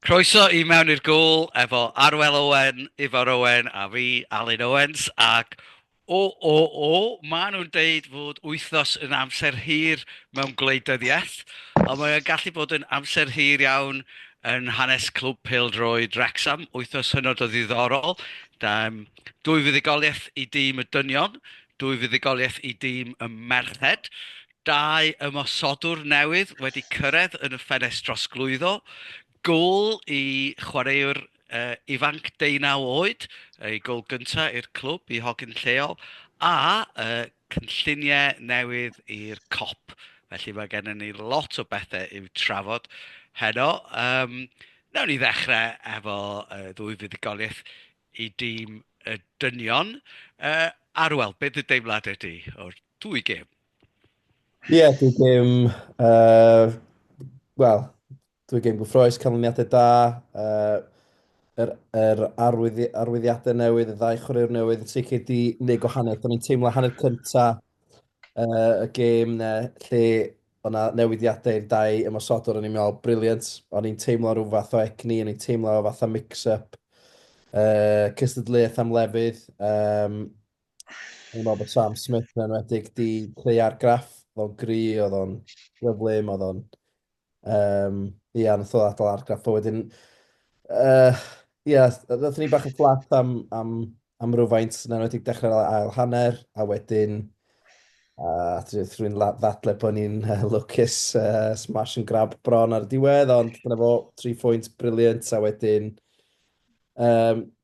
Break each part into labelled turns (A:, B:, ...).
A: Croeso i Mewn i'r Gôl efo Arwel Owen, Ifor Owen a fi, Alun Owens. Ac o, o, o, maen nhw'n deud fod wythnos yn amser hir mewn gwleidyddiaeth, ond mae o'n gallu bod yn amser hir iawn yn hanes Clwb Pêl-droed Wrecsam. Wythnos hynod o ddiddorol. Da, dwy fuddugoliaeth i dîm y dynion, dwy fuddugoliaeth i dîm y merched, Dau ymosodwr newydd wedi cyrraedd yn y ffenest drosglwyddo, gôl i chwaraewr ifanc deunaw oed, ei gôl gyntaf i'r clwb, i hogyn lleol, a cynlluniau newydd i'r Kop. Felly mae gennym ni lot o bethau i'w trafod heno. Um, nawn ni ddechrau efo uh, ddwy fuddugoliaeth i dîm y dynion. Uh, Arwel, beth y deimladau di o'r Dwy gêm? Ie,
B: yeah, dwy gêm... Uh, Wel, dwy gêm gyffroes, canlyniadau da, uh, yr, yr arwyddi, arwyddiadau newydd, y ddau chwaraewr newydd, yn sicr di neu gwahaniaeth. Do'n i'n teimlo hanner cynta uh, y gêm ne, lle o'na newidiadau i'r dau ymosodwr, o'n i'n meddwl, briliant. O'n i'n teimlo rhyw fath o egni, o'n i'n teimlo fath o mix-up, uh, cystadleuaeth am lefydd. Um, Dwi'n meddwl bod Sam Smith yn enwedig di creu argraff, oedd o'n gri, oedd o'n gyflym, oedd o'n... Um, ia, nath o adael argraff o wedyn. Uh, ia, nath ni bach yn fflat am, am, am rhywfaint yn enwedig dechrau'r ail hanner, a wedyn uh, rwy'n ddadle bod ni'n uh, lwcus uh, smash and grab bron ar y diwedd, ond dyna fo, tri phwynt briliant, a wedyn um,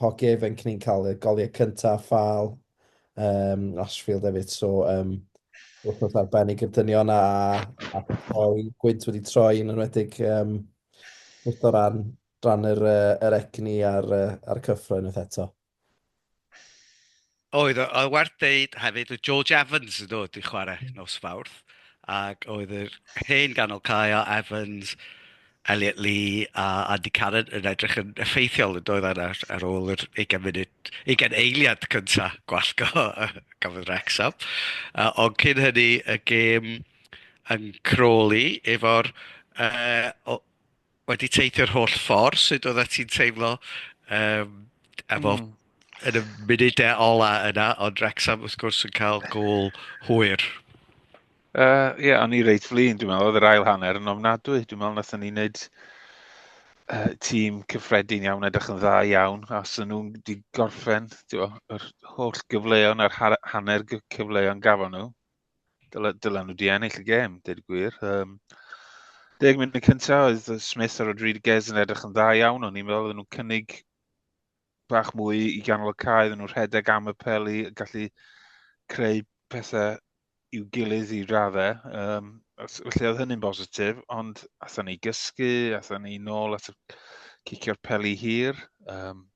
B: hoci ifanc ni'n cael y goliau cyntaf a ffal um, Ashfield hefyd, so um, wythnos arbennig i'r dynion a, a troi, gwynt wedi troi yn enwedig um, wrth o ran, ran yr, uh, yr egni a'r, uh, ar cyffroen wrth eto.
A: Oedd, oedd, oedd werth deud hefyd, oedd George Evans yn dod i chwarae hmm. nos Fawrth, ac oedd yr hen ganol cae o Evans, Elliot Lee a Andy Cannon yn edrych yn effeithiol yn doedd ar, ar ôl yr 20 munud, 20 eiliad cynta gwallgo y gafodd Rexham. Uh, ond cyn hynny y gêm yn croli efo'r uh, wedi teithio'r holl ffordd, sut oeddet ti'n teimlo um, efo mm. yn y munudau ola yna, ond Rexham wrth gwrs yn cael gol hwyr. Ie,
C: uh, yeah, o'n i reit flin, dwi'n meddwl, oedd yr ail hanner yn ofnadwy. Dwi'n meddwl nath ni wneud uh, tîm cyffredin iawn, edrych yn dda iawn, a sy'n nhw'n di gorffen, ti'n yr holl gyfleon a'r hanner cyfleon gafon nhw, Dylen, dylen nhw di ennill y gêm, dweud y gwir. Um, deg munud cyntaf oedd Smith a Rodriguez yn edrych yn dda iawn o'n i'n meddwl oedden nhw'n cynnig bach mwy i ganol y cae, oedden nhw'n rhedeg am y peli, gallu creu pethau i'w gilydd i raddau. Um, felly oedd hynny'n bositif, ond atho ni gysgu, atho ni nôl at cicio'r peli hir. Um,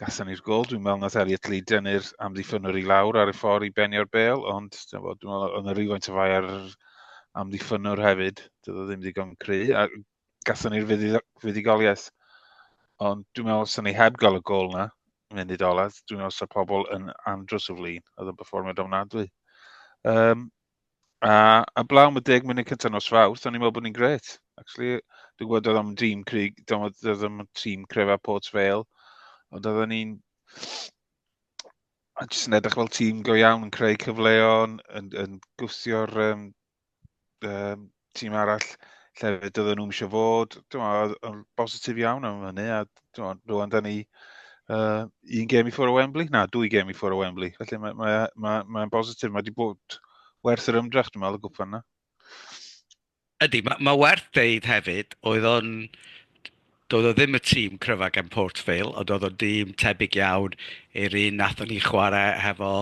C: gasan ni'r gol. Dwi'n meddwl nath Elliot Lee dynnu'r amddiffynwr i lawr ar y ffordd i benio'r bel, ond dwi'n meddwl oedd yna rhywfaint o fai ar amddiffynwr hefyd. Doedd o ddim ddigon cry. A gasan ni'r fuddugoliaeth. Ond dwi'n meddwl sy'n ni heb gael y gol na, mynd i doledd, dwi'n meddwl sy'n pobl yn andros o flin. Oedd yn performio domnadwy. Um, A, a blaw am y deg munud cyntaf nos fawrth, o'n i'n meddwl bod ni'n gret. Actually, dwi'n gwybod oedd am dîm Crig, oedd am tîm Crefa Port Vale, ond oedd ni'n... A jyst yn edrych fel tîm go iawn, yn creu cyfleon, yn, yn gwthio'r um, um, tîm arall llefydd doedden nhw'n eisiau fod, yn bositif iawn am hynny, a rwan da ni uh, un gem i ffwrdd o Wembley, na, dwy gem i ffwrdd o Wembley, felly mae'n mae, mae, mae, mae bositif, mae wedi bod werth yr ymdrech, dwi'n meddwl, y gwpan yna.
A: Ydy, mae, mae werth deud
C: hefyd,
A: oedd o'n Doedd o ddim y tîm cryfa gan Port Vale, ond oedd o'n dîm tebyg iawn i'r un nathon ni chwarae hefo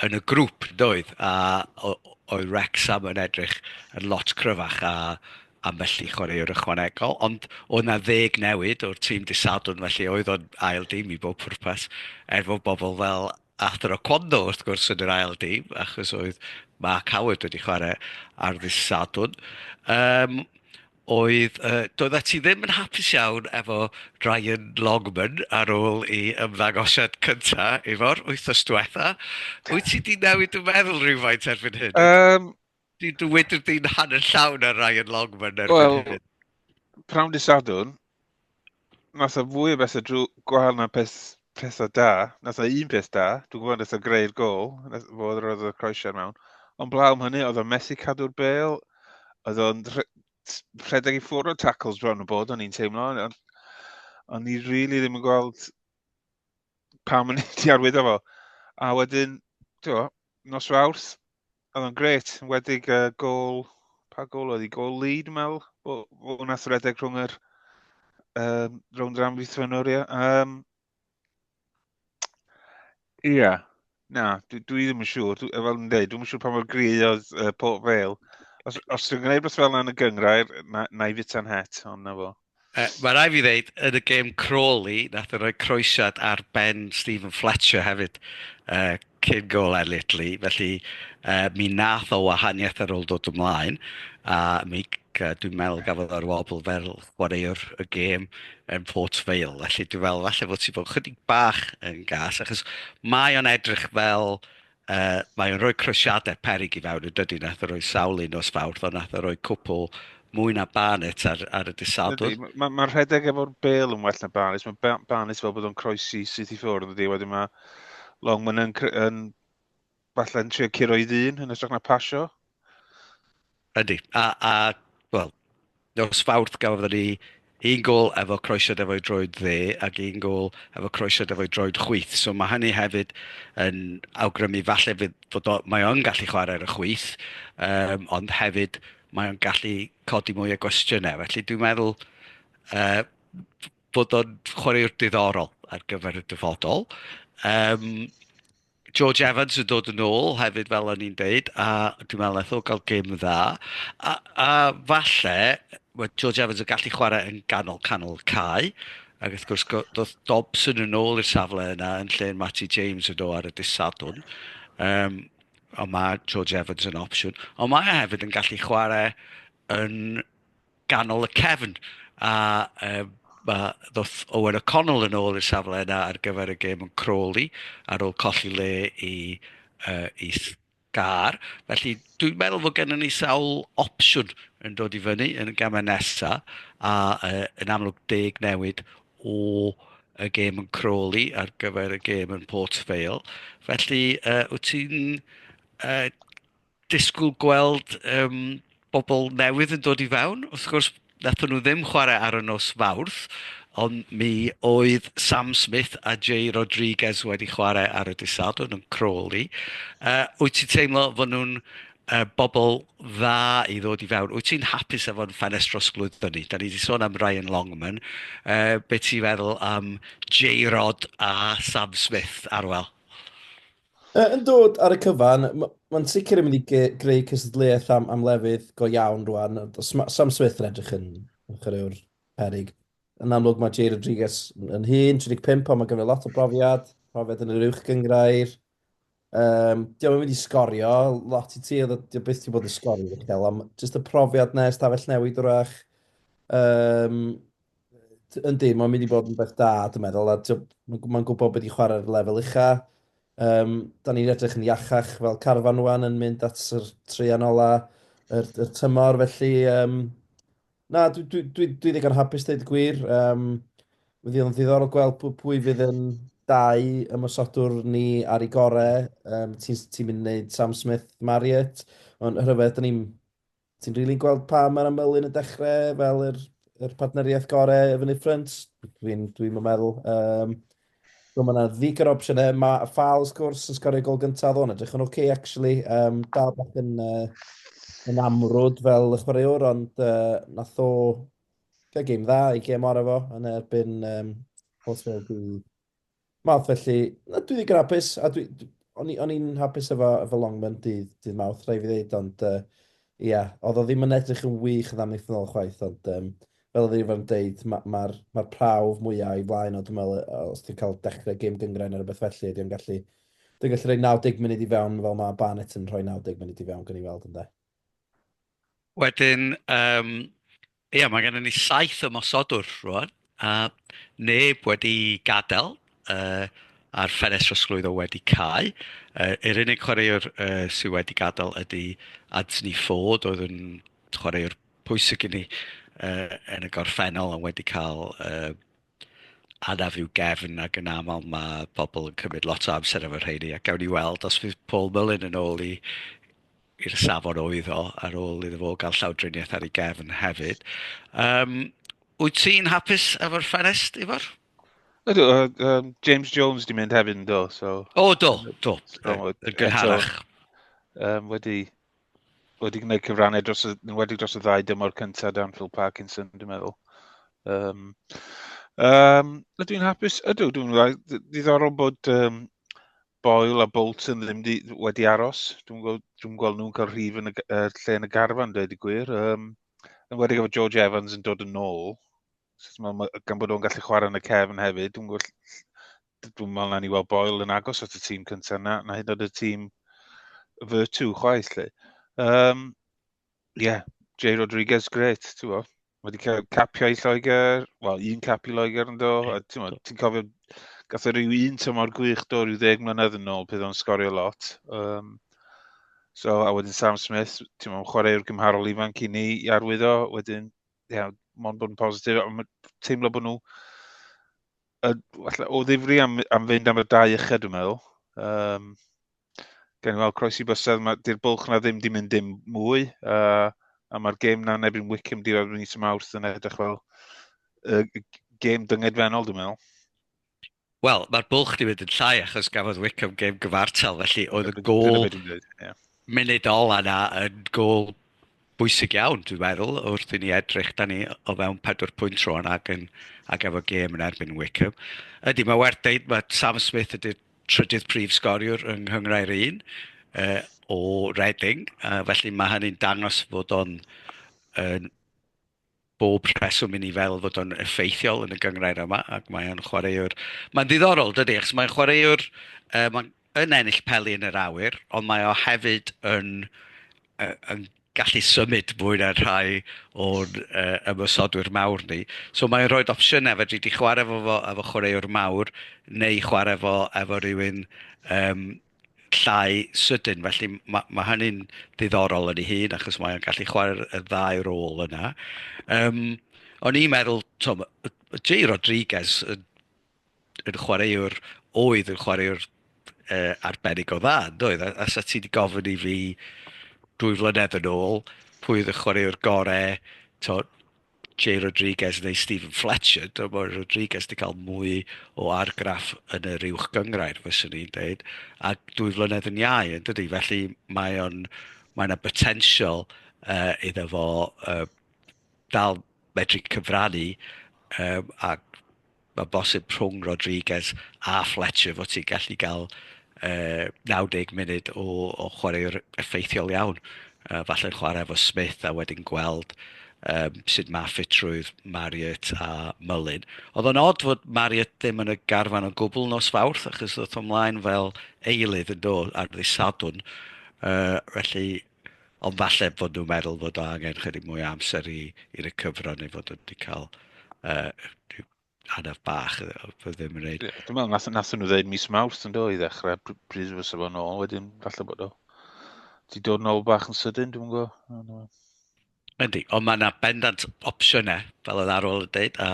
A: yn y grŵp, doedd? A oedd Wrecsam yn edrych yn lot cryfach a ambell i chwaraewr ychwanegol, ond oedd 'na ddeg newid o'r tîm dydd Sadwrn, felly oedd o'n ail dîm i bob pwrpas, er fod bobl fel Arthur Oquendo wrth gwrs yn yr ail dîm, achos oedd Mark Howard wedi chwarae ar ddydd Sadwrn. Um, Oedd, yy, doeddet ti ddim yn hapus iawn efo Ryan Longman ar ôl i ymddangosiad cynta efo'r wythnos diwetha'. Wyt ti 'di newid dy meddwl rhywfaint erbyn hyn? Um, Dwi, dwi wedi di'n hanner llawn ar Ryan Longman erbyn well, hyn. Pnawn dy
C: Sadwrn, Mas o fwy o bethau drwy gwael na peth, pethau da. Nas na un peth da. Dwi'n gwybod nes o greu'r gol. Nes fod yr oedd y croesiau mewn. Ond blaw am hynny, oedd o'n methu cadw'r bel. Oedd o'n rhe- t- rhedeg i ffwrdd o tackles bron y bod, o'n i'n teimlo. Ond on i rili really ddim yn gweld pam o'n i wedi arwyddo fo. A wedyn, ti'n gwybod, nos Fawrth, Oedd o'n gret, wedig uh, gol, pa gol oedd i, gol lead, dwi'n meddwl, o, o wna thredeg rhwng yr um, rownd yr amddiffynwr, ie. Um, Ie. Yeah. Na, dwi, dwi ddim yn siŵr. Dwi, fel yn dweud, dwi'n siŵr pa mor gri oedd uh, Port Vale. Os, os dwi'n gwneud beth fel yna yn y gyngrair, na, na i fita'n het, ond na fo. Yy, mae rai fi ddeud,
A: yn y gêm Crawley, nath e roi croesiad ar ben Stephen Fletcher hefyd, uh, cyn gol ar Litli, felly uh, mi nath o wahaniaeth ar ôl dod ymlaen, a mi, uh, dwi'n meddwl gafodd o'r wobl fel chwaraewr y gêm yn Port Vale, felly dwi'n meddwl falle fod ti bod chydig bach yn gas, achos mae o'n edrych fel Yy, mae o'n rhoi crwysiadau peryg i fewn, yn dydi? Nath o roi sawl un nos Fawrth, ond nath o roi cwpl mwy na Barnet ar, ar y disadwr. Mae ma, ma rhedeg efo'r
C: bel yn well na Barnet. Mae Barnet fel bod o'n croesi syth i ffwrdd, ydy. Wedyn mae Longman yn, yn falle'n trio curo i ddyn yn ystrach na pasio.
A: Ydy, a, a wel, nos Fawrth gafodd ni un gol efo croesiad efo'i droed dde ac un gol efo croesiad efo'i droed chwyth. So mae hynny hefyd yn awgrymu falle fydd fod o, mae o'n gallu chwarae ar y chwyth, um, ond hefyd mae o'n gallu codi mwy o gwestiynau. Felly dwi'n meddwl uh, bod o'n chwaraewr diddorol ar gyfer y dyfodol. Um, George Evans yn dod yn ôl hefyd fel o'n i'n deud a dwi'n meddwl wnaeth o gael gêm dda a a falle ma' George Evans yn gallu chwarae yn ganol canol cae ac wrth gwrs go- doedd Dobson yn ôl i'r safle yna yn lle Matty James yn do ar y dydd Sadwrn yym ond ma' George Evans yn opsiwn ond mae e hefyd yn gallu chwarae yn ganol y cefn, a um, mae ddoth Owen O'Connell yn ôl i'r safle yna ar gyfer y gêm yn Crawley ar ôl colli le i, uh, i gar. Felly dwi'n meddwl fod gennym ni sawl opsiwn yn dod i fyny yn y gamau nesaf a uh, yn amlwg deg newid o y gêm yn Crawley ar gyfer y gêm yn Port Vale. Felly uh, wyt ti'n uh, disgwyl gweld yym bobl newydd yn dod i fewn. Wrth gwrs wnaethon nhw ddim chwarae ar y nos Fawrth, ond mi oedd Sam Smith a Jay Rodriguez wedi chwarae ar y dydd Sadwrn yn Crawley. Yy wyt ti'n teimlo fod nhw'n yy bobl dda i ddod i fewn? Wyt ti'n hapus efo'n ffenest drosglwyddo ni? Dan ni 'di sôn am Ryan Longman, yy be ti'n feddwl am Jay Rod a Sam Smith, Arwel? Yy,
B: yn dod ar y cyfan, m- mae'n sicr yn mynd i ge- greu cystadleuaeth am, am lefydd go iawn rwan. Does ma- Sam Smith yn edrych yn, yn chwaraewr peryg. Yn amlwg mae Jay Rodriguez yn yn hŷn, 35, ond mae ganddo lot o brofiad, profiad yn yr uwch gyngrair. Um, Diolch yn mynd i sgorio lot i ti, oedd o- di o byth ti bod yn sgorio uchel, ond jyst y profiad na ystafell newid wrach. Um, Yndi, mae'n mynd i bod yn beth da, dwi'n meddwl, a mae'n gwybod beth i chwarae'r lefel ucha. Um, da ni'n edrych yn iachach fel carfan nhw'n yn mynd at yr treian ola, yr, yr tymor, felly... Um, na, dwi, dwi, dwi, dwi ddigon hapus dweud y gwir. Um, Fydd o'n ddiddorol gweld pwy, pwy fydd yn dau ymwysodwr ni ar ei gorau. Um, Ti'n ti mynd i wneud Sam Smith, Marriott, ond rhyfedd, da ni'n Ti'n rili gweld pam mae'r ymylu yn y dechrau fel yr, yr partneriaeth gorau efo Nick Ffrynt? Dwi'n dwi meddwl. Um, so mae yna ddig yr opsiynau. Mae Ffal, wrth gwrs, yn sgorio gol gyntaf o'n edrych yn oce, okay, actually. Um, dal bach yn, uh, yn amrwd fel y chwaraewr, ond uh, nath o gael gêm dda i gêm o'r efo yn erbyn um, Portsmouth Mawrth felly, na, dwi ddigon hapus, a dwi, dwi- o'n i- o'n i'n hapus efo, efo Longman dydd, dydd Mawrth, rhaid fi ddeud, ond yy, ia, oedd o ddim yn edrych yn wych yn amlith yn ôl chwaith, ond um, fel oedd Irfan yn deud, ma- ma'r ma prawf mwyaf i flaen o, dwi'n meddwl, yy, os ti'n cael dechrau gêm gyngrain ar rhywbeth felly, ydy o'n gallu, dwi'n gallu rhoi 90 munud i fewn fel mae Barnett yn rhoi 90 munud i fewn, gan i weld ynde. Wedyn
A: yym ia mae gennyn ni saith ymosodwr rŵan a neb wedi gadael yy a'r ffenest trosglwyddo wedi cau. Yy yr unig chwaraewr yy sydd wedi gadael ydy Anthony Ford oedd yn chwaraewr pwysig i ni yy yn y gorffennol a wedi cael yy anaf i'w gefn ac yn aml mae pobl yn cymryd lot o amser efo rheini ac gawn ni weld os fydd Paul Mullin yn ôl i i'r safon oedd o ar ôl iddo fo gael llawdriniaeth ar ei gefn hefyd. Um, wyt ti'n hapus efo'r fferest, Ifor? Ydw, uh,
C: um, James Jones di mynd hefyd yn do, so... O, do, do,
A: yn
C: gynharach.
A: Um,
C: wedi wedi gwneud cyfrannau dros y, yn wedi dros y ddau dymor cyntaf dan Phil Parkinson, dwi'n meddwl. Um, um, ydw i'n hapus? Ydw, dwi'n meddwl, ddiddorol bod um, Boyle a Bolton ddim di, wedi aros. Dwi'n gweld, dwi gweld nhw'n cael rhif yn y, uh, lle yn y garfan, dweud i gwir. Um, yn wedi gweld George Evans yn dod yn ôl, sut mae, gan bod o'n gallu chwarae yn y cefn hefyd, dwi'n gweld dwi'n meddwl na ni weld Boyle yn agos at y tîm cyntaf na, na hyd oed y tîm Virtue chwaith lle. Um, yeah, Jay Rodriguez, great, ti'n bo. Mae wedi cael capio i Lloegr, wel, un cap i Lloegr yn do, a ti'n yeah. ti cofio, gath o rhyw un tymor gwych do, rhyw ddeg mlynedd yn ôl, bydd o'n sgorio lot. Um, so, a wedyn Sam Smith, ti'n meddwl, chwaraewr gymharol ifanc i ni i arwyddo, wedyn, ie, yeah, mond bod yn positif, teimlo bod nhw uh, falle, o ddifri am, am fynd am y dau yched, dwi'n meddwl. Um, gen i weld croes i bysedd, di'r bwlch na ddim di mynd dim mwy, uh, a mae'r gêm na nebyn Wickham di rhaid yn nis mawrth yn edrych fel uh, gêm dyngedfennol, dwi'n meddwl. Wel,
A: mae'r bwlch di mynd yn llai achos gafodd Wickham gêm gyfartal, felly oedd y gol... munud ola' 'na yn gôl bwysig iawn dwi'n meddwl wrth i ni edrych, dan ni o fewn pedwar pwynt rwan ac yn ac efo gêm yn erbyn Wycombe. Ydy, mae werth deud mae Sam Smith ydy'r trydydd prif sgoriwr yng Nghyngrair un yy o Reading, yy felly mae hynny'n dangos fod o'n yn bob rheswm i ni feddwl fod o'n effeithiol yn y gynghrair yma, ac mae o'n chwaraewr... Mae'n ddiddorol, dydy, achos mae'n chwaraewr yy mae'n yn ennill peli yn yr awyr, ond mae o hefyd yn yy yn gallu symud mwy na rhai o'n yy ymosodwyr mawr ni. So mae'n rhoi'r opsiynau, fedri di chwarae efo fo efo chwaraewr mawr neu chwarae efo efo rywun yym... llai sydyn. Felly ma' ma' hynny'n ddiddorol yn ei hun achos mae o'n gallu chwarae'r y ddau rôl yna. Yym, o'n i'n meddwl, t'mo', ma' yy ma' Jay Rodriguez yn yn chwaraewr oedd yn chwaraewr yy arbennig o dda yndoedd? A a 'set ti 'di gofyn i fi dwy flynedd yn ôl pwy oedd y chwaraewr gore t'mo' Jay Rodriguez neu Stephen Fletcher, dwi'n meddwl bod Rodriguez wedi cael mwy o argraff yn yr uwch gyngrair, fyswn i'n dweud, a dwy flynedd yn iau, yn dydy. Felly mae o'n, mae yna botensial uh, iddo fo uh, dal medru cyfrannu um, a Mae'n bosib rhwng Rodriguez a Fletcher fod ti'n gallu cael uh, 90 munud o, o chwaraewr effeithiol iawn. Uh, falle'n chwarae efo Smith a wedyn gweld um, sut mae ffitrwydd Marriott a Mullin. Oedd o'n od fod Marriott ddim yn y garfan o gwbl nos fawrth, achos oedd o'n mlaen fel eilydd yn dod ar ddisadwn. Uh, felly, Ond falle fod nhw'n meddwl fod o angen chydig mwy o amser i, i recyfro neu fod wedi cael uh, anaf bach, fe ddim yn reid. Dwi'n meddwl, nath, nath nhw ddeud
C: mis mawrth yn do i ddechrau, pryd fy sef o'n ôl, wedyn falle bod o. Ti dod yn ôl bach yn sydyn, dwi'n gwybod. Yndi,
A: ond mae 'na bendant opsiynau, fel oedd Arwel yn deud, a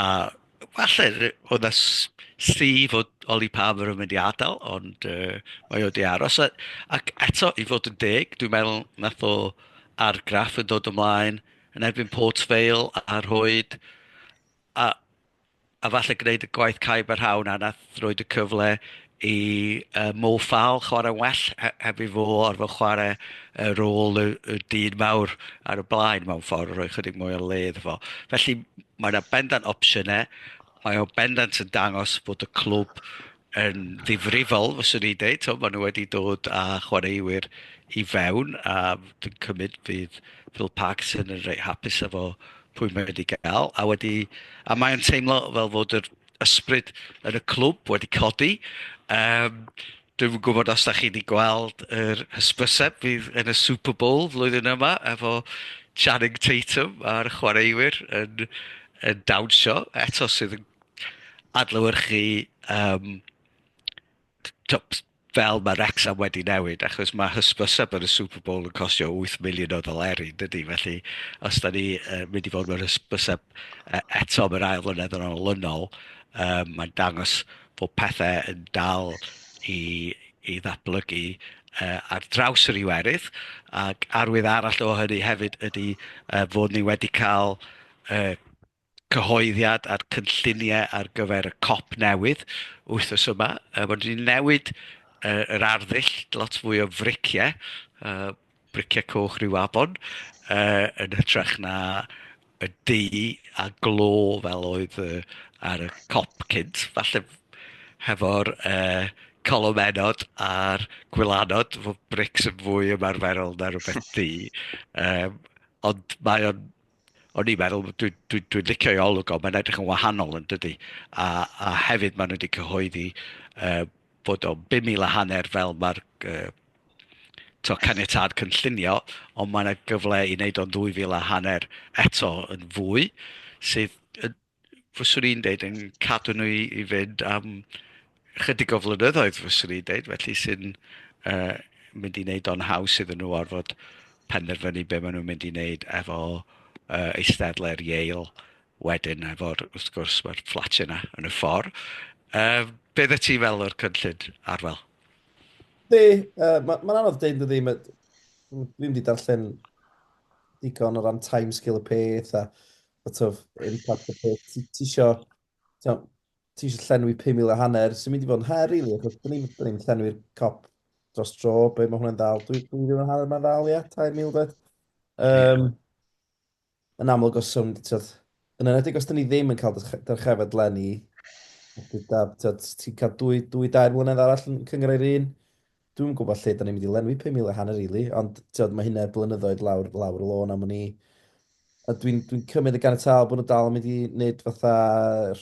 A: a falle ry- oedd 'na s- sri fod Oli Paver yn mynd i adael, ond yy mae o 'di aros. A ac eto, i fod yn deg, dwi'n meddwl wnaeth o argraff yn dod ymlaen yn erbyn Port Vale a rhoid a a falle gwneud y gwaith caib a rhaw 'na wnaeth roid y cyfle i yy Mo Farrell chwarae'n well he- heb i fo orfod chwarae y rôl y y dyn mawr ar y blaen mewn ffordd, rhoi chydig mwy o le iddo fo. Felly mae 'na bendant opsiynau, mae o bendant yn dangos bod y clwb yn ddifrifol fyswn i'n deud, tibod maen nhw wedi dod â chwaraewyr i fewn a dwi'n cymryd fydd Phil Parkinson yn reit hapus efo pwy mae wedi gael a wedi a mae'n teimlo fel fod yr ysbryd yn y clwb wedi codi um, dwi'n gwybod os da chi wedi gweld yr hysbyseb fydd yn y Super Bowl flwyddyn yma efo Channing Tatum a'r chwaraewyr yn, yn dawnsio eto sydd yn adlewyrchu yym tibod fel mae Wrecsam wedi newid achos mae hysbyseb ar y Super Bowl yn costio wyth miliwn o ddoleri dydy? Felly os dan ni yy mynd i fod mewn hysbyseb yy eto am yr ail flynedd yn olynol yym mae'n dangos bod pethau yn dal i i ddatblygu yy ar draws yr Iwerydd ac arwydd arall o hynny hefyd ydy yy fod ni wedi cael yy cyhoeddiad a'r cynlluniau ar gyfer y cop newydd wythnos yma. Yy rydyn ni'n newid yy yr arddull, lot fwy o friciau, yy briciau coch ryw afon, yy yn hytrach na y du a glo fel oedd yy ar y cop cynt. Falle hefo'r yy colomennod a'r gwylanod fod brics yn fwy ymarferol na rywbeth du. Yym ond mae o'n o'n i'n meddwl, dwi'n dwi, dwi licio ei olwg o, mae'n edrych yn wahanol yn dydy. A, a hefyd maen nhw wedi cyhoeddi uh, bod o'n 5,000 a hanner fel mae'r uh, to caniatad cynllunio, ond mae yna gyfle i wneud o'n 2,000 a hanner eto yn fwy, sydd yn fyswn i'n deud, yn cadw nhw i i fynd am ychydig o flynyddoedd fyswn i'n deud, felly sy'n yy mynd i wneud o'n haws iddyn nhw orfod penderfynu be maen nhw'n mynd i wneud efo yy eisteddle'r Yale wedyn efo'r wrth gwrs mae'r fflatiau 'na yn y ffordd. Yy be oeddet ti'n feddwl o'r cynllun, Arwel? Be, uh,
B: mae'n ma anodd dweud dydy, ma, dwi wedi darllen digon o ran timescale y peth a sort of, impact y peth. Ti, ti isio, ti isio llenwi 5,000 a hanner, sy'n mynd i fod yn her, rili, really, achos byddwn ni'n llenwi'r cop dros dro, be mae hwnna'n dal, dwi, dwi ddim yn hanner mae'n dal, ia, 3,000 dweud. Um, yn amlwg os yw'n, tyd, yn enedig os dyn ni ddim yn cael dyrchefyd lenni, ti'n cael dwy, dwy dair mlynedd arall yn cyngor i'r un, Dwi'm yn gwybod lle 'da ni'n mynd i lenwi pum mil a hanner rili, ond ti'od ma' hynna blynyddoedd lawr lawr y lôn am wn i. A dwi'n dwi'n cymryd yn ganiataol bod nhw dal yn mynd i wneud fatha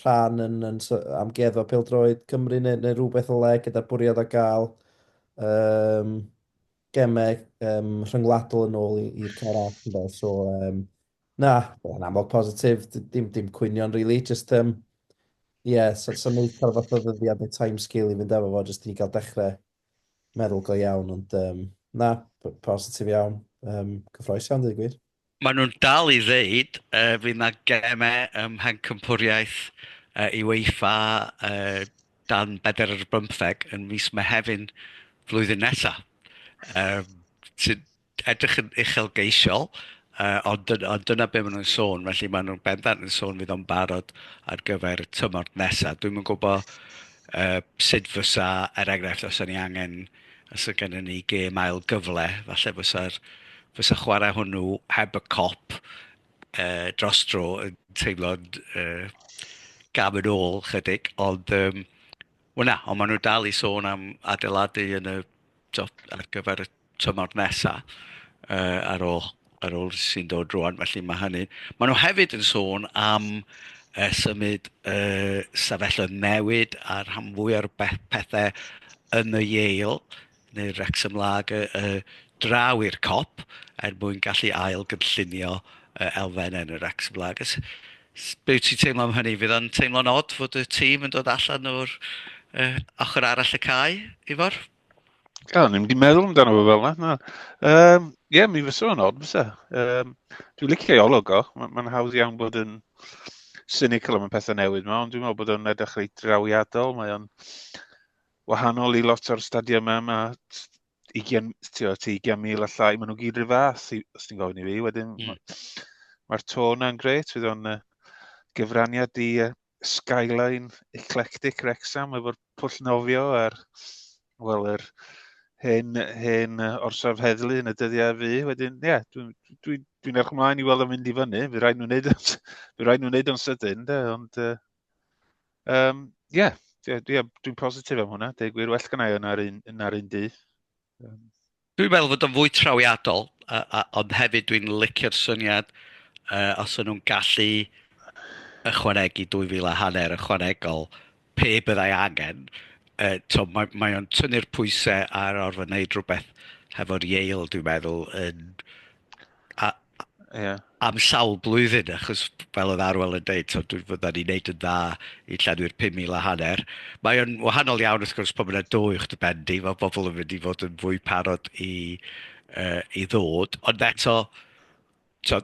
B: rhan yn, yn so- amgueddfa pêl-droed Cymru neu, neu rhywbeth o le gyda'r bwriad o gael um, gemau um, rhyngwladol yn ôl i'r CARAC ynde. So um, Na, yn amlwg positif, dim, dim cwynion rili, really. just, um, yeah, so, so neud cael fath o ddyddiad neu time scale i fynd efo fo, just i ni gael dechrau meddwl go iawn, ond um, na, positif iawn, um, cyffroes iawn, dweud gwir. Mae nhw'n dal i
A: ddeud, uh, fydd na gemau ym mhen cympwriaeth uh, i weifa uh, dan bedr ar bymtheg yn mis Mehefin flwyddyn nesaf. Um, edrych yn uchelgeisiol, uh, ond, ond dyna beth maen nhw'n sôn, felly maen nhw'n bendant yn sôn fydd o'n barod ar gyfer y tymor nesaf. Dwi'n yn gwybod uh, sut fysa, er enghraifft, os ni angen, os ydy gennym ni gêm ail gyfle, falle fysa'r fysa chwarae hwnnw heb y cop uh, dros dro yn teimlo'n uh, gam yn ôl chydig, ond um, Wel na, ond maen nhw dal i sôn am adeiladu yn y, tibod, ar gyfer y tymor nesaf uh, ar ôl, ar ôl sy'n dod rwan, felly mae hynny. Maen nhw hefyd yn sôn am uh, symud uh, sefyllfa newid a'r rhan fwy o'r pethau yn y Yale neu'r Wrexham Lager yy draw i'r Kop er mwyn gallu ail gynllunio yy elfennau yn yr Wrexham Lager. S- s- Be wyt ti'n teimlo am hynny? Fydd o'n teimlo'n od fod y tîm yn dod allan o'r yy, ochr arall y cae, Ifor? O, ni'n
C: mynd i meddwl amdano fo fel yna. Na. Um, Ie, yeah, mi fysa fo'n od, fysa. Um, dwi'n licio ei olwg o. Mae'n ma hawdd iawn bod yn cynical am y pethau newydd yma, ond dwi'n meddwl bod o'n edrych reit drawiadol. Mae o'n wahanol i lot o'r stadiymau yma, i gen, ti o, ti gen mil a llai, maen nhw gyd rhyw fath, os ti'n gofyn i fi, wedyn, mm. mae'r ma to yna'n gret, fydd o'n uh, gyfraniad i uh, Skyline Eclectic Rexham efo'r pwll nofio a'r, wel, yr hen, hen orsaf heddlu yn y dyddiau fi. Wedyn, ie, yeah, dwi'n dwi, dwi, dwi erch ymlaen i weld o'n mynd i fyny. Fy rhaid nhw'n neud o'n, fy rhaid nhw'n neud o'n sydyn, de, ond uh, Um, ie, yeah, yeah, dwi'n positif am hwnna. Deg wir, well gynnau yna'r un, yna un dydd. Um.
A: Dwi'n meddwl fod o'n fwy trawiadol, a, a, ond hefyd dwi'n licio'r syniad uh, os o'n nhw'n gallu ychwanegu 2,000 a hanner ychwanegol pe byddai angen, uh, to, mae, mae o'n tynnu'r pwysau ar orfod wneud rhywbeth hefo'r Yale, dwi'n meddwl, yn a, yeah. am sawl blwyddyn, achos fel oedd Arwel yn dweud, so, dwi'n fydda ni'n neud yn dda i llenwi'r 5,000 a hanner. Mae o'n wahanol iawn wrth gwrs bod yna do i'ch dy bendi, mae bobl yn mynd i fod yn fwy parod i, uh, i ddod, ond eto, so,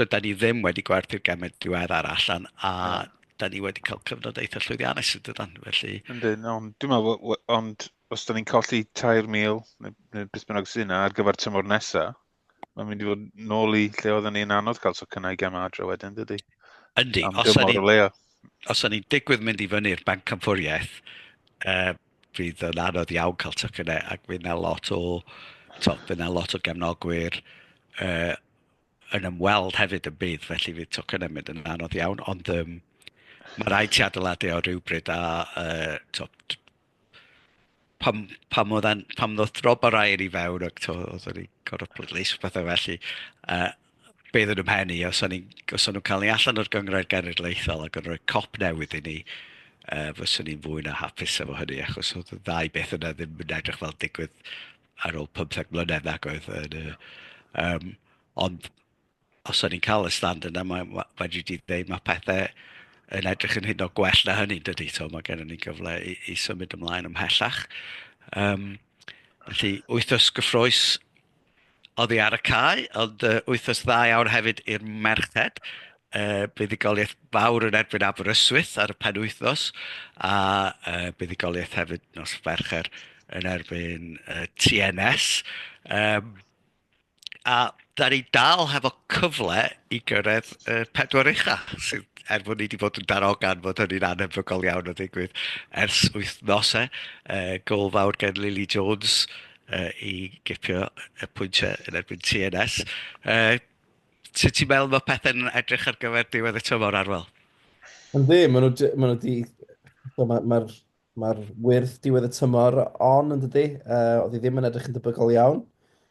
A: dyda ni ddim wedi gwerthu'r gemau diwedd ar allan a yeah. da ni wedi cael cyfnod eitha llwyddiannus yn dydan, felly... Yndyn, ond dwi'n
C: meddwl, ond os da ni'n colli 3,000 neu, neu beth bynnag sy'n yna ar gyfer tymor nesa, mae'n mynd i fod nôl i lle oedden ni'n anodd cael tocynnau gem adre wedyn, dydy? Yndi, Am os
A: o'n i'n os o'n i'n digwydd mynd i fyny'r banc camffwriaeth, uh, fydd yn anodd iawn cael tocynnau ac fydd yna lot o, to, fydd yna lot o gefnogwyr uh, yn ymweld hefyd yn bydd, felly fydd tocynnau mynd yn anodd iawn, ond um, mae rhaid ti adeiladu o rhywbryd a uh, to, pam pam oedd e'n... pam ddoth drop yr aer i fewn ac tibod oedd o'n i'n gorfod pleidleisio a pethau felly yy be oedd yn fy mhen i os o'n i'n... os o'n nhw'n cael ni allan o'r Gynghrair Genedlaethol ac yn rhoi cop newydd i ni yy fyswn i'n fwy na hapus efo hynny achos oedd y ddau beth yna ddim yn edrych fel digwydd ar ôl pymtheg mlynedd nag oedd yn y yym ond Os o'n ni'n cael y stand yna, mae ma' fedri di ddeud ma' pethe yn edrych yn hyd yn oed gwell na hynny, yn dydy. Tibod, mae gennon ni gyfle i i symud ymlaen ymhellach. Yym, felly, wythnos gyffrous oddi ar y cae, ond yy, wythnos dda iawn hefyd i'r merched. Yy, buddugoliaeth fawr yn erbyn Aberystwyth ar y penwythnos, a yy, buddugoliaeth hefyd nos Fercher yn erbyn yy, TNS. Yym. a da ni dal hefo cyfle i gyrraedd y pedwar ucha, sydd, er bod ni wedi bod yn darogan bod hynny'n anhebygol iawn o ddigwydd ers wythnosau, uh, gol fawr gen Lily Jones uh, i gipio y pwyntiau yn erbyn TNS. Uh, sut ti'n meddwl mae pethau'n edrych ar gyfer diwedd y tymor arwel? Yn ddim,
B: maen nhw wedi... Mae'r Mae'r wyrth diwedd y tymor on yn dydy. Uh, oedd hi ddim yn edrych yn debygol iawn.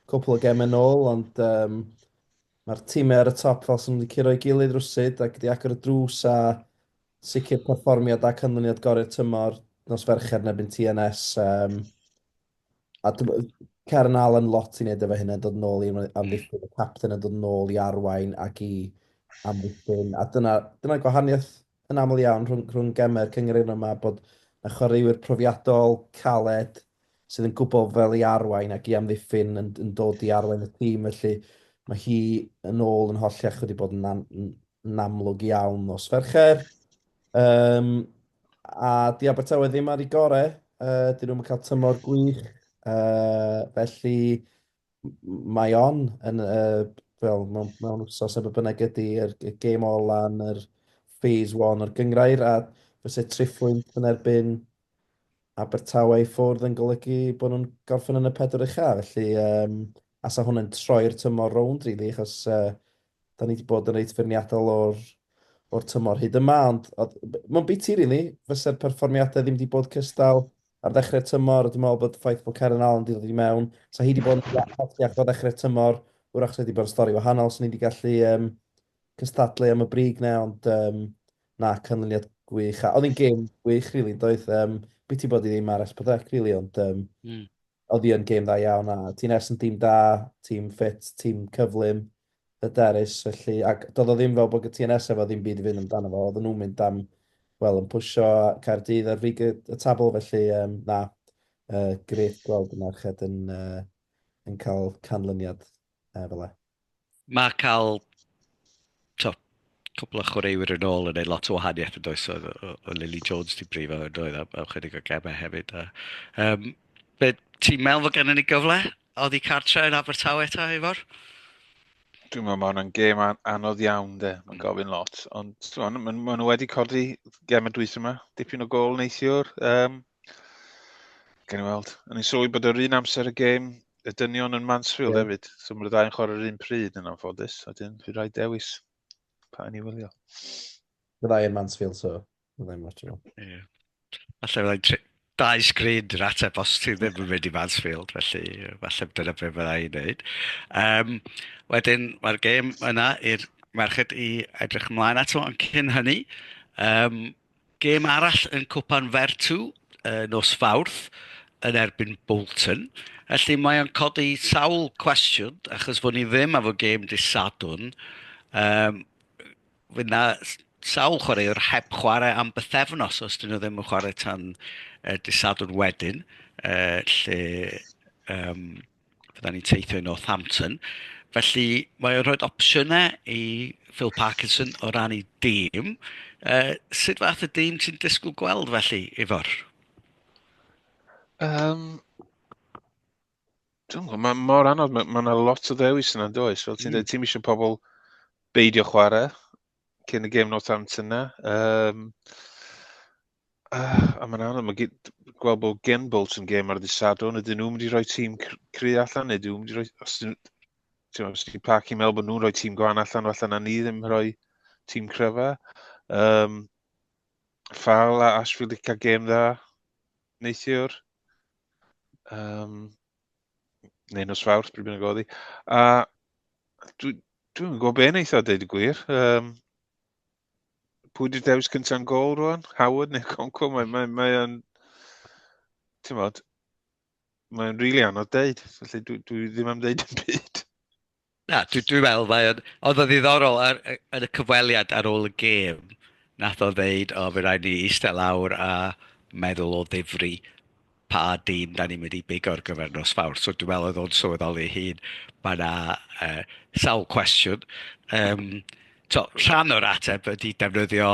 B: Cwpl o gemau nôl, ond um, mae'r tîmau ar y top fel sy'n wedi curo i gilydd rwsyd ac wedi agor y drws a sicr perfformiad a canlyniad gorau'r tymor nos fercher nebyn TNS. Um, a Karen Allen lot i wneud efo hynna, dod yn ôl i amddiffyn, y captain yn dod yn ôl i arwain ac i amddiffyn. A dyna, dyna gwahaniaeth yn aml iawn rhwng, rhwng gemau'r cyngerddau yma bod na chwaraewyr profiadol, caled, sydd yn gwybod fel i arwain ac i amddiffyn yn, yn dod i arwain y tîm. Felly mae hi yn ôl yn holl iach wedi bod yn, an, yn amlwg iawn os fercher. Um, a di Abertawe ddim ar ei gore, uh, dyn nhw'n cael tymor gwych, uh, felly mae on yn y, fel, mewn, mewn wsos efo bynnag ydy, yr, y gêm ola yn yr phase 1 o'r gyngrair, a fyse triphwynt yn erbyn Abertawe i ffwrdd yn golygu bod nhw'n gorffen yn y pedwar ucha, felly um, asa hwn yn troi'r tymor rownd, rili, really, achos uh, da ni wedi bod yn reit feirniadol o'r, or tymor hyd yma, ond mae'n biti, rili, really, fyse'r perfformiadau ddim wedi bod cystal, ar ddechrau'r tymor, dwi'n meddwl bod ffaith bod Karen Allen wedi dod i mewn, ta hi wedi bod yn dda iach o ddechrau'r tymor, wrach wedi bod yn stori wahanol, sy'n ni wedi gallu um, cystadlu am y brig na, ond um, na, canlyniad gwych. A oedd hi'n gêm gwych, rili, really, doedd. Um, beth ti bod i ddim ar Espadec, rili, really, ond um, mm. oedd hi'n gêm dda iawn. A ti'n ers yn tîm da, tîm ffit, tîm cyflym, hyderus, felly, ac doedd o ddim fel bod y TNS efo ddim byd i fynd amdano fo, oedden nhw'n mynd am, wel, yn pwysio Caerdydd ar frig y, y tabl, felly, um, na, uh, grêt gweld y merched yn, uh, yn cael canlyniad uh, fel e. Mae cael
A: to, cwpl o chwaraewyr yn ôl yn neud lot o wahaniaeth yn does, oedd oedd Lily Jones 'di brifo yn doedd am am chydig o gemau hefyd a yym be ti'n meddwl fod gennym ni gyfle oddi cartre yn Abertawe ta Ifor? Dwi'n
C: meddwl mae hwnna'n gêm an- anodd iawn de, mae'n mm. gofyn lot, ond ti'n meddwl, maen nhw wedi codi gem y dwys yma, dipyn o gol neithiwr, um, Gen i weld. O'n i'n sylwi bod yr un amser y gêm y dynion yn Mansfield yeah. hefyd. So mae'r ddau yn
B: chwarae yr
C: un pryd yn anffodus. A dyn, fi rai dewis pa yn i wylio. Mae ddau
B: yn Mansfield, so mae ddau'n watch nhw. Ie.
A: Alla fyddai'n tri... dau sgrin yn ateb os ti ddim yn mynd i Mansfield, felly falle dyna beth mae'n ei wneud. Um, wedyn, mae'r gêm yna i'r merched i edrych ymlaen ato, ond cyn hynny, um, Gêm arall yn Cwpan Vertu nos Fawrth yn erbyn Bolton. Felly mae o'n codi sawl cwestiwn, achos fod ni ddim efo gêm dy Sadwn. Um, Fydd na sawl chwaraewr heb chwarae am bythefnos os dyn nhw ddim yn chwarae tan uh, dy Sadwn wedyn. Uh, lle, um, fydda ni'n teithio i Northampton. Felly mae o'n rhoi opsiynau i Phil Parkinson o ran ei dîm. Uh, sut fath y dîm ti'n disgwyl gweld felly, Ifor? Um,
C: Dwi'n gwybod, mae mor anodd, mae yna ma lot o ddewis yna, does? Fel ti'n mm. dweud, ti'n eisiau pobl beidio chwarae cyn y gêm Northampton yna. Um, Uh, a mae'n anodd, mae gweld bod gen Bolts yn gêm ar ddisadwn, ydyn nhw'n mynd i roi tîm cry allan, neu ydyn nhw'n mynd i roi... Os ydyn nhw'n parc i'n meddwl bod nhw'n rhoi tîm gwan allan, falle na ni ddim rhoi tîm cryfa. Um, Fal a Ashfield i cael gêm dda, neithiwr. Um, neu nos fawrth, bryd bynnag oedd hi. A dwi'n dwi gwybod beth neithiwr, dweud y gwir. Um, pwy di'r dewis cynta'n gol rwan? Howard neu Conco? Mae'n... Mae, mae, mae ti'n modd, mae'n rili really anodd deud, felly dwi, dwi ddim am ddeud yn byd. Na, dwi,
A: dwi meddwl, mae o'n... Oedd o ddiddorol ar, yn y cyfweliad ar ôl y gêm, nath o ddeud, o, fe rhaid ni eistedd lawr a meddwl o ddifri pa dîm da ni'n mynd i bigo ar gyfer nos Fawrth. So dwi'n meddwl oedd o'n sylweddoli ei hun, mae yna uh, sawl cwestiwn. Um, to, rhan o'r ateb ydy defnyddio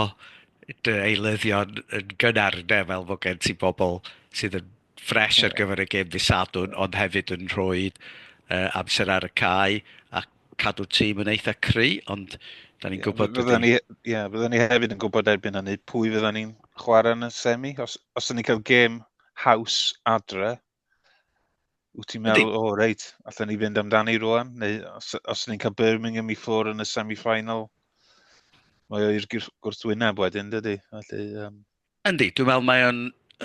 A: dy eilyddion yn gynnar ynddo, fel bod gen ti bobl sydd yn ffres ar gyfer y gêm ddisadwn, ond hefyd yn rhoi uh, amser ar y cae, ac cadw'r tîm yn eitha cry, ond da ni'n gwybod... Fydda ni, ie, fydda
C: ni hefyd yn gwybod erbyn hynny pwy fydda ni'n chwarae yn y semi. Os, os da ni'n cael gêm haws adre, wyt ti'n meddwl, o oh, reit, allan ni fynd amdani rwan? Neu os, os ni'n cael Birmingham i ffwr yn y semi-final, mae o'r gwrthwyneb wedyn, dydy? Felly, um,
A: Yndi, dwi'n meddwl mae o'n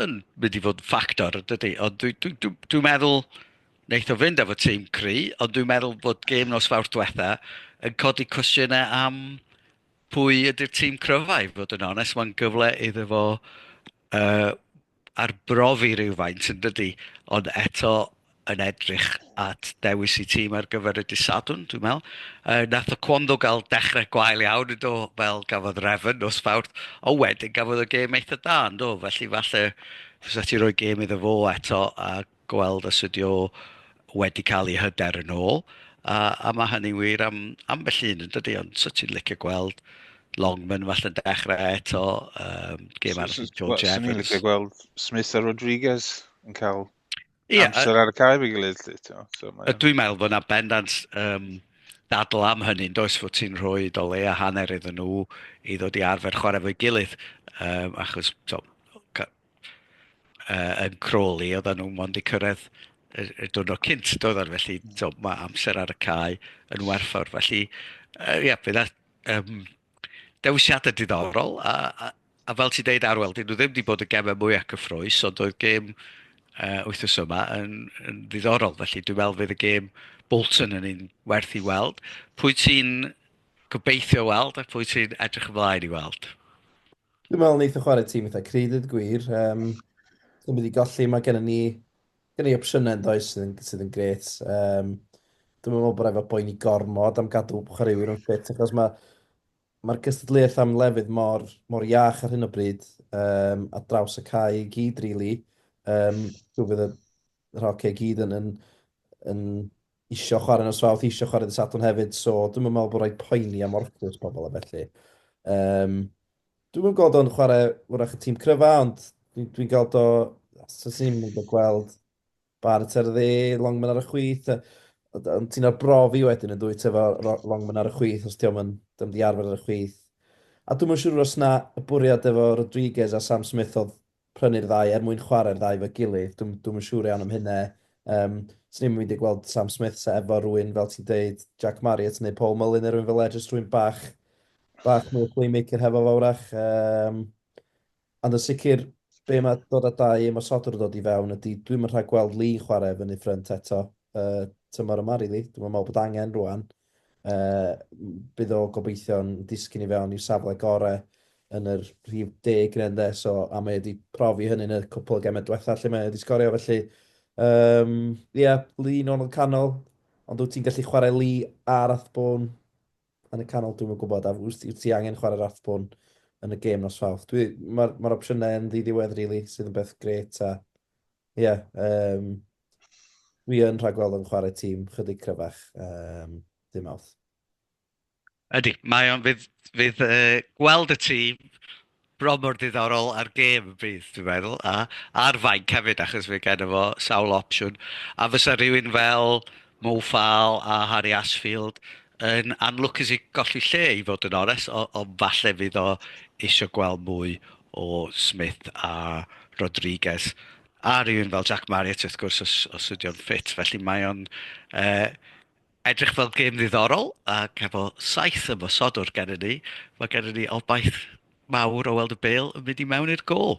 A: yn mynd i fod yn ffactor yn dydi, ond dwi dwi dwi dwi'n meddwl wneith o fynd efo tîm cry, ond dwi'n meddwl bod gêm nos Fawrth diwetha' yn codi cwestiynau am pwy ydy'r tîm cryfa i fod yn onest, mae'n gyfle iddo fo yy arbrofi rywfaint yn dydi, ond eto... yn edrych at dewis eu tîm ar gyfer y dydd Sadwrn, dwi'n meddwl. Yy, nath y Kwando gael dechrau gwael iawn yn do, fel gafodd Refn nos Fawrth, ond wedyn gafodd y gêm eitha da yn do, felly falle fysa ti roi gêm iddo fo eto a gweld os ydi o wedi cael ei hyder yn ôl. A, a mae hynny'n wir am ambell un yn dydy, ond so ti'n licio gweld Longman falle'n dechrau eto, um, gêm arall George Evans. Swn i'n licio gweld
C: Smith a Rodriguez yn cael Ie, amser ar y cae fi gilydd. So, mae... Dwi'n meddwl
A: bod yna bendant um, dadl am hynny, yn does fod ti'n rhoi do le a hanner iddyn nhw i ddod i arfer chwarae fo'i gilydd, um, achos to, ca, uh, yn Crawley oedden nhw mond i cyrraedd y, y diwrnod cynt, doedden, felly to, mae amser ar y cae yn werthfawr. Felly, uh, ie, yeah, bydd um, Dewisiadau diddorol, a, a, a fel ti'n deud Arwel, dyn nhw ddim wedi bod y gemau mwyaf cyffroes, ond oedd gêm uh, wythnos yma yn, yn ddiddorol, felly dwi'n meddwl fydd y gêm Bolton yn un werth i weld. Pwy ti'n gobeithio weld a pwy ti'n edrych ymlaen i weld? Dwi'n meddwl
B: wneud o chwarae tîm eitha crydydd gwir. Um, Dwi'n mynd i golli, mae gennym ni Gen i opsiynau yn does sydd yn, sydd yn gret. Um, dwi'n meddwl bod efo boeni gormod am gadw chwaraewyr yn ffit achos mae mae'r gystadleuaeth am lefydd mor, mor iach ar hyn o bryd um, a draws y cae i gyd, really. Um, dwi'n fydd y rhocau i gyd yn, yn, yn isio chwarae yn ysfawth, isio chwarae ddysadwn hefyd, so dwi'n meddwl bod rhaid poeni am orffwys pobl a felly. Um, Dwi'm yn gweld o'n chwarae wrach y tîm cryfa, ond dwi'n dwi gweld o... Swn i'n mynd o gweld Barrett ar y dde, Longman ar y chwith. Ond ti'n o'r brofi wedyn yn dwyt efo Longman ar y chwith os diolch yn ddim di arfer ar y chwith. A dwi'n yn siŵr os na y bwriad efo Rodriguez a Sam Smith oedd prynu'r ddau er mwyn chwarae'r ddau 'fo'i gilydd. Dwi'm, dwi'm yn siŵr iawn am hynna. Yym, 'swn i'm yn mynd i gweld Sam Smith 'sa efo rywun, fel ti'n deud, Jack Marriott neu Paul Mullin neu rywun fela, jyst rhywun bach, bach mwy o playmaker hefo fo wrach. Um, ond yn sicr, be mae dod â dau ymosodwr yn dod i fewn ydy, dwi'm yn rhag gweld Lee chwarae fyny ffrynt eto uh, tymor yma, rili. Really. Dwi'n meddwl bod angen rwan. Yy, bydd o gobeithio'n disgyn i fewn i'w safle gore yn yr rhif deg neu ynde, so, a mae wedi profi hynny yn y cwpl o gemau diwetha lle mae wedi sgorio, felly, um, ie, yeah, Lee yn ôl canol, ond wyt ti'n gallu chwarae Lee a Rathbone yn y canol, dwi'n yn gwybod, a wyt ti angen chwarae Rathbone yn y gêm nos fawth. Mae'r ma, ma opsiynau yn ddiddiwedd, really, sydd yn beth gret, a Ie, um, wi yn rhagweld yn chwarae tîm chydig cryfach, um, dim awth.
A: Ydy, mae o'n fydd, fydd uh, gweld y tîm bron mor ddiddorol ar gêm y bydd, dwi'n meddwl, a ar fainc hefyd, achos fe gen efo sawl opsiwn. A fysa rhywun fel Mo Fal a Harry Ashfield yn anlwcus i golli lle i fod yn ores, ond falle fydd o eisiau gweld mwy o Smith a Rodriguez, a rhywun fel Jack Marriott wrth gwrs os, os ydy o'n ffit. Felly mae o'n uh, edrych fel gêm ddiddorol ac efo saith ymosodwr gennym ni, mae gennym ni obaith mawr o weld y bel yn mynd i mewn i'r gol.